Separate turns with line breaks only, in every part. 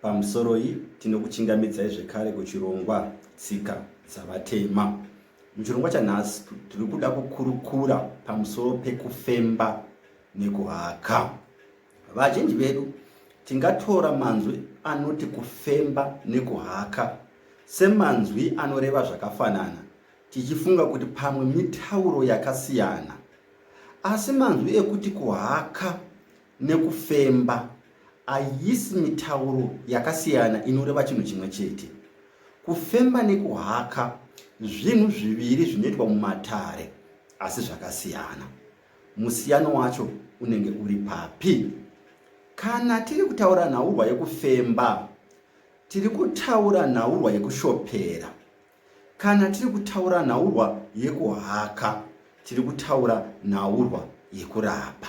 Pamusoroi tinokuchingamidzai zvekare kuchirongwa Tsika dzaVatema. Muchirongwa chanhasi tiri kuda kukurukura pamusoro pekufemba nekuhaka. Vazhinji vedu tingatora manzwi anoti kufemba nekuhaka semanzwi anoreva zvakafanana tichifunga kuti pamwe mitauro yakasiyana. Asi manzwi ekuti kuhaka nekufemba ayisi mitauro yakasiyana inoreva chinhu chimwe chete. Kufemba nekuhaka zvinhu zviviri zvinoitwa mumatare asi zvakasiyana. Musiyano wacho unenge uri papi? Kana tiri kutaura nhaurwa yekufemba, tiri kutaura nhaurwa yekushopera. Kana tiri kutaura nhaurwa yekuhaka, tiri kutaura nhaurwa yekurapa.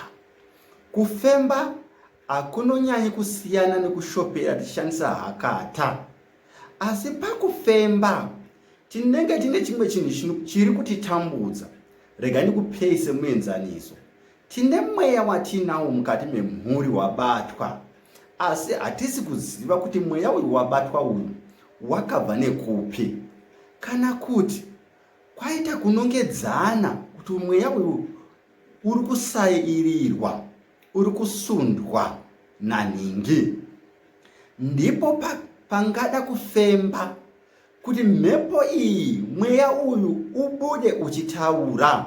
Kufemba hakunonyanyi kusiyana nekushopera tichishandisa hakata. Asi pakufemba, tinenge tine chimwe chinhu chiri kutitambudza. Rega ndikupei semuenzaniso. Tine mweya watinawo mukati memhuri wabatwa, asi hatisi kuziva kuti mweya uyu wabatwa uyu wakabva nekupi, kana kuti kwaita kunongedzana kuti mweya uyu uri kusairirwa, uri kusundwa nanhingi. Ndipo pa, pangada kufemba kuti mhepo iyi, mweya uyu ubude uchitaura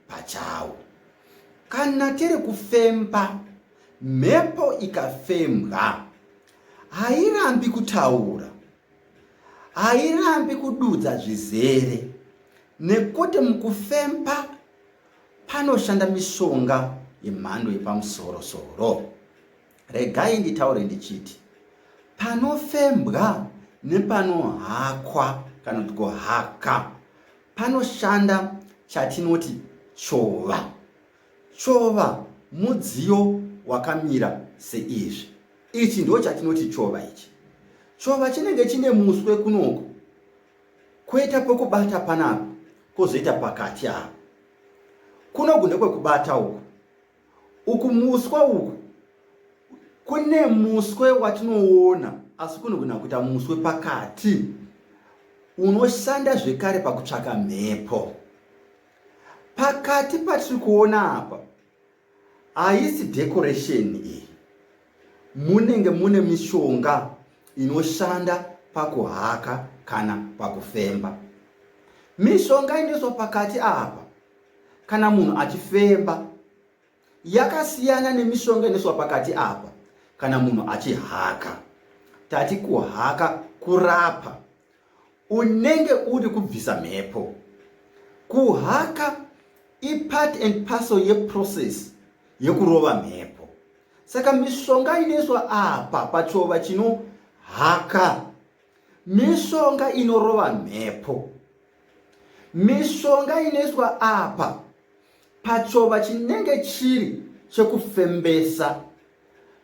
pachawo. Kana tiri kufemba, mhepo ikafembwa hairambi kutaura, hairambi kududza zvizere nekuti mukufemba panoshanda mishonga yemhando yepamusoro-soro. Regai nditaure ndichiti panofembwa nepanohakwa kana kuti kuhaka panoshanda chatinoti chova. Chova mudziyo wakamira seizvi. Ichi ndo chatinoti chova ichi. Chova chinenge chine muswe kunoko kwoita pokubata panapa kwozoita pakati apo. Kunoku ndekwekubata uku Uku muswa uku kune muswe watinoona asi kunogona kuita muswe pakati unoshanda zvekare pakutsvaka mhepo. Pakati patiri kuona apa haisi decoration iyi, munenge mune mishonga inoshanda pakuhaka kana pakufemba. Mishonga inoiswa pakati apa kana munhu achifemba yakasiyana nemishonga inoiswa pakati apa kana munhu achihaka tati kuhaka kurapa unenge uri kubvisa mhepo kuhaka ipart and parcel yeprocess yekurova mhepo saka mishonga inoiswa apa pachova chinohaka mishonga inorova mhepo mishonga inoiswa apa pachova chinenge chiri chekufembesa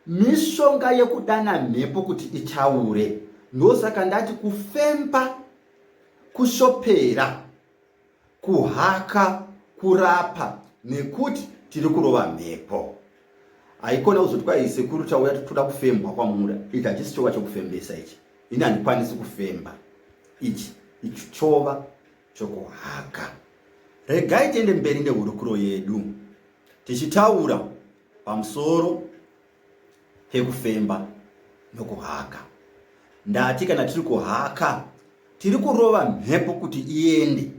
mishonga yekudana mhepo kuti itaure ndosaka ndati kufemba kushopera kuhaka kurapa nekuti tiri kurova mhepo haikona kuzoti kwai sekuru tauya toda kufembwa kwamura ichi hachisi chova chokufembesa ichi ini handikwanisi kufemba ichi ichi chova chokuhaka regai tiende mberi nehurukuro yedu tichitaura pamusoro kekufemba nokuhaka. Ndati kana tiri kuhaka tiri kurova mhepo kuti iende.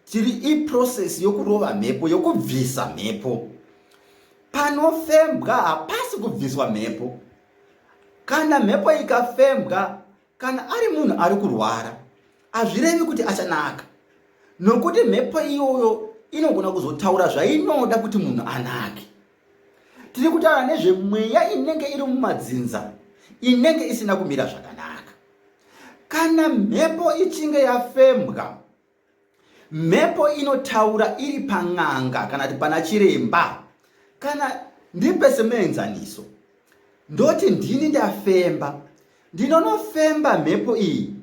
Tiri iprocess yokurova mhepo, yokubvisa mhepo. Panofembwa hapasi kubviswa mhepo. Kana mhepo ikafembwa, kana ari munhu ari kurwara, hazvirevi kuti achanaka. Nokuti mhepo iyoyo inogona kuzotaura zvainoda kuti munhu anake. tiri kutaura nezvemweya inenge iri mumadzinza inenge isina kumira zvakanaka kana mhepo ichinge yafembwa mhepo inotaura iri pan'anga kana kuti pana chiremba kana ndipe semuenzaniso ndoti ndini ndafemba ndinonofemba mhepo iyi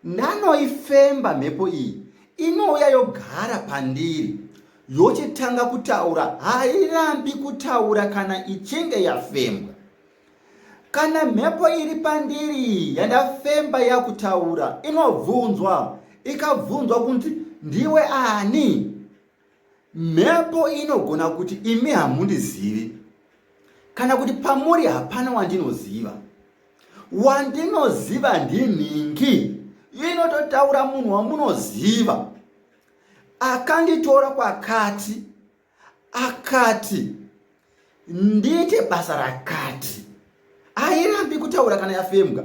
Ndanoifemba mhepo iyi inouya yogara pandiri yochitanga kutaura hairambi kutaura kana ichinge yafembwa kana mhepo iri pandiri yandafemba yakutaura inobvunzwa ikabvunzwa kunzi ndiwe ani Mhepo inogona kuti imi hamundizivi, kana kuti pamuri hapana wandinoziva. Wandinoziva ndinhingi, inototaura munhu wamunoziva. Akanditora kwakati, akati, ndiite basa rakati hairambi kutaura kana yafembwa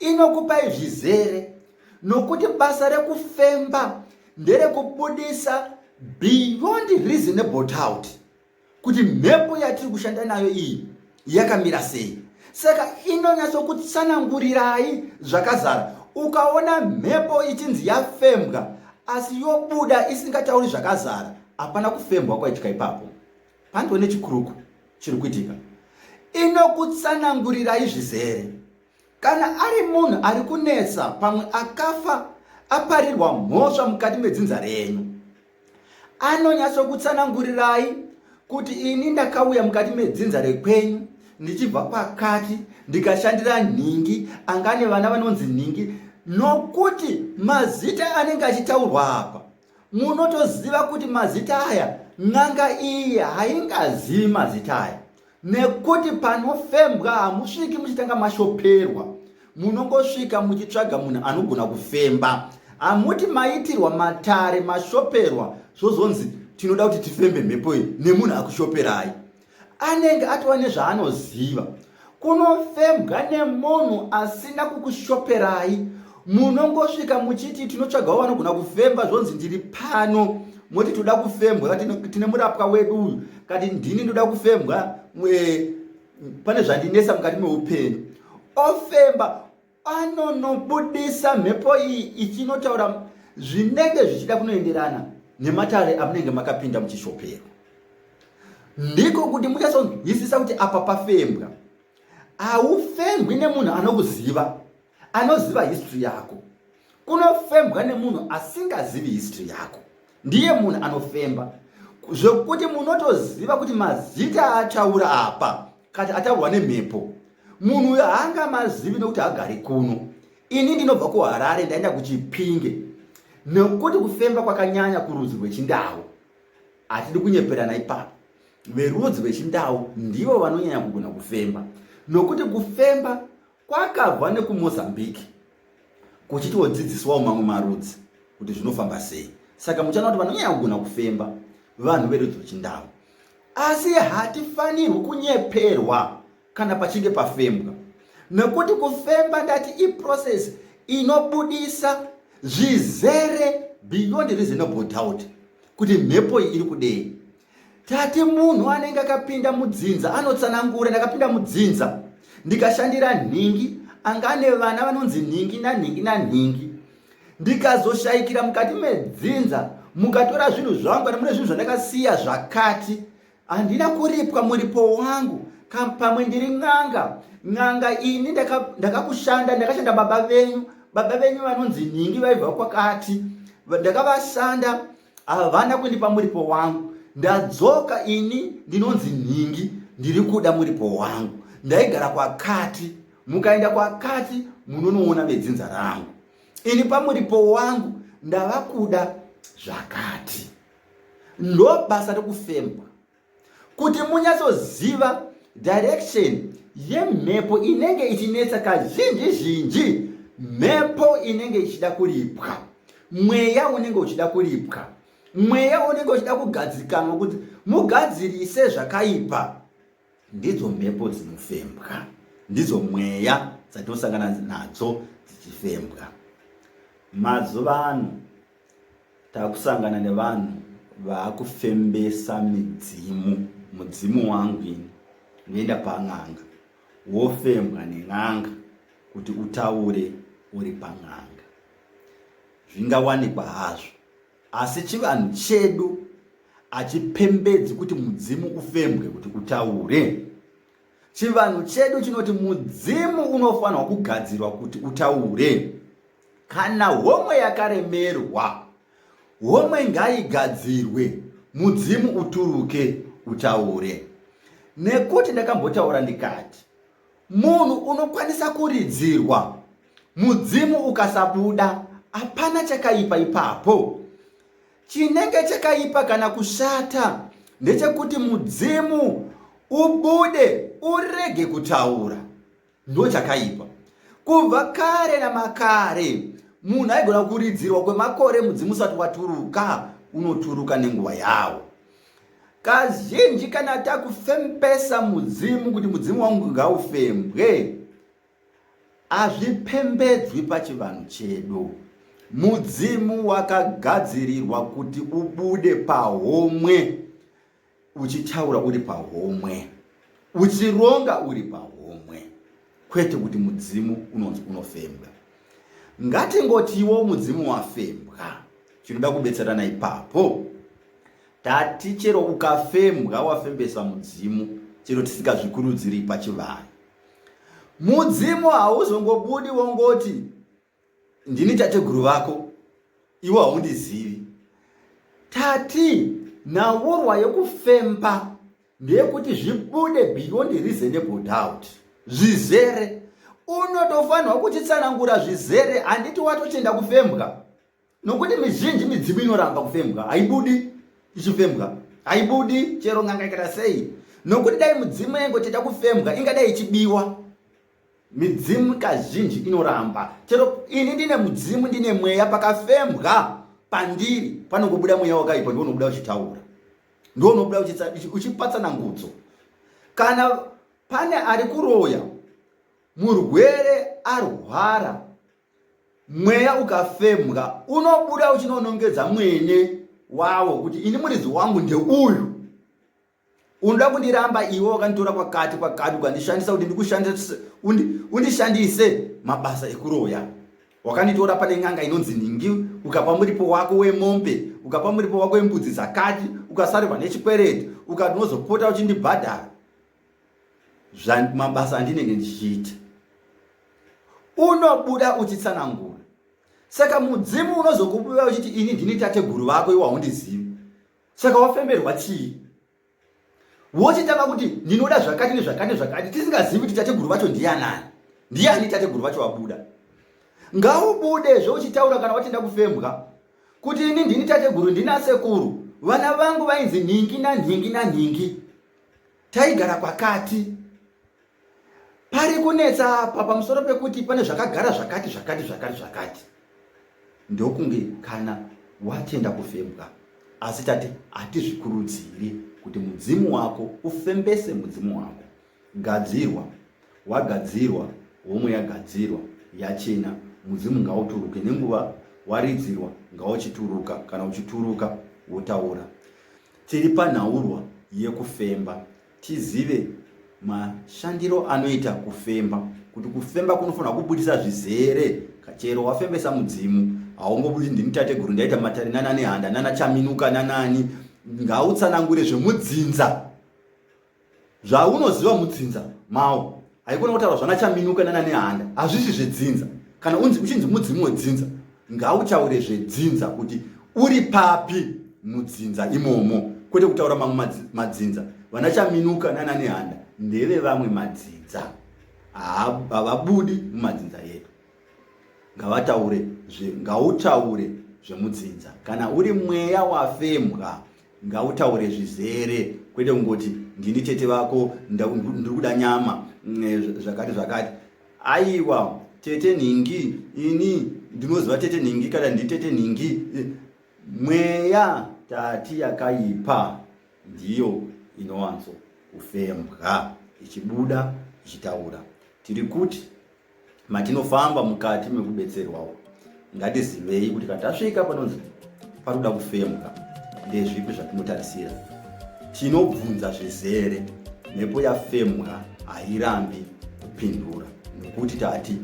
inokupai zvizere nokuti basa rekufemba nderekubudisa beyond reasonable doubt kuti mhepo yatiri kushanda nayo iyi yakamira sei saka inonyatsokutsanangurirai zvakazara ukaona mhepo ichinzi yafembwa asi yobuda isingatauri zvakazara hapana kufembwa kwaitya ipapo Pandiwe nechikuruku chiri kuitika inokutsanangurirai zvizere kana ari munhu ari kunetsa pamwe akafa aparirwa mhosva mukati medzinza renyu anonyatsokutsanangurirai kuti ini ndakauya mukati medzinza rekwenyu ndichibva pakati ndikashandira nhingi angane vana vanonzi nhingi nokuti mazita anenge achitaurwa apa munotoziva kuti mazita aya n'anga iyi haingazivi mazita aya nekuti panofembwa hamusviki muchitanga mashoperwa munongosvika muchitsvaga munhu anogona kufemba hamuti maitirwa matare mashoperwa zvozonzi tinoda kuti tifembe mhepo iyi nemunhu akushoperai anenge atova nezvaanoziva kunofembwa nemunhu asina kukushoperai munongosvika muchiti tinotsvagawo vanogona kufemba zvonzi ndiri pano moti toda kufembwa tine murapwa wedu uyu kati ndini ndoda kufembwa pane zvandinesa mukati meupenyu ofemba anonobudisa mhepo iyi ichinotaura zvinenge zvichida kunoenderana nematare amunenge makapinda muchishopero ndiko kuti muchasonzwisisa kuti apa pafembwa haufembwi nemunhu anokuziva anoziva history yako kunofembwa nemunhu asingazivi history yako ndiye munhu anofemba zvekuti munotoziva kuti mazita ataura apa kati ataurwa nemhepo munhu uyo haanga mazivi nekuti hagari kuno ini ndinobva kuharare ndaenda kuchipinge nekuti kufemba kwakanyanya kurudzi rwechindau hatidi kunyeperana ipapo verudzi rwechindau ndivo vanonyanya kugona kufemba nokuti kufemba Kwakabva nekuMozambique kuchitiwo dzidziswawo mamwe marudzi kuti zvinofamba sei. Saka muchaona kuti vanonyanya kugona kufemba vanhu verudzi rweChindau. Asi hatifanirwi kunyeperwa kana pachinge pafembwa nekuti kufemba ndati iprocess inobudisa zvizere beyond reasonable doubt kuti mhepo iyi iri kudei Tate munhu anenge akapinda mudzinza anotsanangura, ndakapinda mudzinza ndikashandira nhingi, anga ane vana vanonzi nhingi nanhingi nanhingi. Ndikazoshaikira mukati medzinza, mukatora zvinhu zvangu, kana mune zvinhu zvandakasiya zvakati, handina kuripwa muripo wangu, pamwe ndiri n'anga. N'anga ini ndakakushanda, ndakashanda baba venyu, baba venyu vanonzi nhingi vaibva kwakati, ndakavashanda havana kundipa muripo wangu ndadzoka ini ndinonzi nhingi ndiri kuda muripo wangu ndaigara kwakati mukaenda kwakati munonoona vedzinza rangu ini pamuripo wangu ndava kuda zvakati ndo basa rekufembwa kuti munyatsoziva direction yemhepo inenge ichinetsa kazhinji zhinji mhepo inenge ichida kuripwa mweya unenge uchida kuripwa mweya unenge uchida kugadzikanwa kuti mugadzirise zvakaipa ndidzo mhepo dzinofembwa ndidzo mweya dzatinosangana nadzo dzichifembwa mazuva ano Takusangana nevanhu vakufembesa midzimu mudzimu wangu ini unoenda pan'anga wofembwa nen'anga kuti utaure uri pan'anga zvingawanikwa hazvo asi chivanhu chedu hachipembedzi kuti mudzimu ufembwe kuti utaure chivanhu chedu chinoti mudzimu unofanirwa kugadzirwa kuti utaure Kana homwe yakaremerwa, homwe ngaigadzirwe, mudzimu uturuke utaure. Nekuti ndakambotaura ndikati, munhu unokwanisa kuridzirwa, mudzimu ukasabuda, hapana chakaipa ipapo. Chinenge chakaipa kana kushata ndechekuti mudzimu ubude urege kutaura. Ndochakaipa. Kubva kare namakare munhu aigona kuridzirwa kwemakore mudzimu usati waturuka unoturuka nenguva yawo. Kazhinji kana takufembesa mudzimu kuti mudzimu wangu ngaufembwe, hazvipembedzwi pachivanhu chedu. Mudzimu wakagadzirirwa kuti ubude pahomwe. uchitaura uri pahomwe uchironga uri pahomwe kwete kuti mudzimu unonzi unofembwa ngatingotiwo mudzimu wafembwa chinoda kubetserana ipapo tati chero ukafembwa wafembesa mudzimu chero tisikazvikurudziri pachivanhu mudzimu hauzongobudi wongoti Ndini tateguru vako iwe haundizivi. Tati nhaurwa yekufemba ndeyekuti zvibude beyond reasonable doubt zvizere unotofanirwa kutitsanangura zvizere handiti watochenda kufembwa nokuti mizhinji midzimu inoramba kufembwa haibudi ichifembwa haibudi chero nganga ikata sei nokuti dai mudzimu yaingoteta kufembwa ingadai ichibiwa midzimu kazhinji inoramba chero ini ndine mudzimu ndine mweya pakafembwa pandiri panongobuda mweya wakaipa ndiwo unobuda uchitaura ndiwo unobuda uchipatsana ngudzo kana pane ari kuroya murwere arwara mweya ukafemwa unobuda uchinonongedza mwene wawo kuti ini muridzi wangu ndeuyu unoda kundiramba iwe wakanditora kwakati kwakati ukandishandisa kuti ndikushandise undishandise mabasa ekuroya wakanditora pane n'anga inonzi ningi ukapa muripo wako wemombe ukapa muripo wako wembudzi dzakati ukasarwa nechikwereti ukati unozopota uchindibhadhara mabasa andinenge ndichiita unobuda uchitsanangura saka mudzimu unozokubuda uchiti ini ndini tateguru vako iwe haundizivi saka wafemberwa chii wochitanga kuti ndinoda zvakati nezvakati nezvakati tisingazivi kuti tateguru vacho ndiyanani ndiyani tateguru vacho wabuda ngaubude zvouchitaura kana watenda kufembwa kuti ini ndini tateguru ndinasekuru vana vangu vainzi nhingi nanhingi nanhingi taigara kwakati pari kunetsa apa pamusoro pekuti pane zvakagara zvakati zvakati zvakati zvakati ndokunge kana watenda kufembwa asi tati hatizvikurudziri kuti mudzimu wako ufembese mudzimu wako gadzirwa wagadzirwa homwe yagadzirwa yachena mudzimu ngauturuke nenguva waridzirwa ngauchituruka kana uchituruka wotaura Tiri panhaurwa yekufemba tizive mashandiro anoita kufemba kuti kufemba kunofanira kubudisa zvizere chero wafembesa mudzimu haungobudisi ndini tateguru ndaita matare nana nehanda nana chaminuka nanani ngautsanangure zvemudzinza zvaunoziva mudzinza mawo haikona kutaura zvana chaminuka nana nehanda hazvisi zvedzinza kana unzi uchinzi mudzimu wedzinza ngautaure zvedzinza kuti uri papi mudzinza imomo kwete kutaura mamwe madzinza vana chaminuka nana nehanda ndeve vamwe madzinza havabudi mumadzinza yedu ngavataure zve ngautaure zvemudzinza kana uri mweya wafembwa ngautaure zvizere kwete kungoti ndini tete vako ndiri kuda nyama mm, zvakati zvakati aiwa tete nhingi ini ndinoziva tete nhingi kana ndi tete nhingi mweya tati yakaipa ndiyo inowanzo kufembwa ichibuda ichitaura tiri kuti Matinofamba mukati mekubetserwawo, ngatizivei kuti kana tasvika panonzi pari kuda kufemwa, ndezvipi zvatinotarisira. Tinobvunza zvizere, mhepo yafemwa hairambi kupindura nekuti tati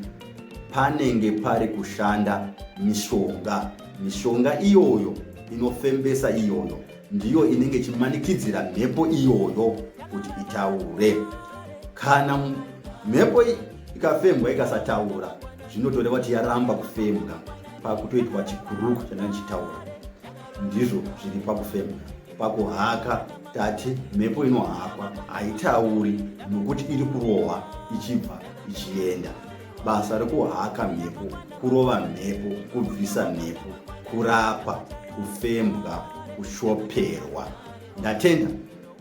panenge pari kushanda mishonga. Mishonga iyoyo inofembesa iyoyo ndiyo inenge ichimanikidzira mhepo iyoyo kuti itaure kana mhepo ikafembwa ikasataura zvinotoreva kuti yaramba kufembwa pakutoitwa chikuruku chandanga chitaura ndizvo zviri pakufembwa pakuhaka tati mhepo inohakwa haitauri nokuti iri kurohwa ichibva ichienda basa rekuhaka mhepo kurova mhepo kubvisa mhepo kurapa kufembwa kushoperwa ndatenda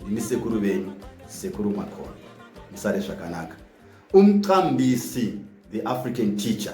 ndini sekuru venyu sekuru makoni musare zvakanaka umqambisi the african teacher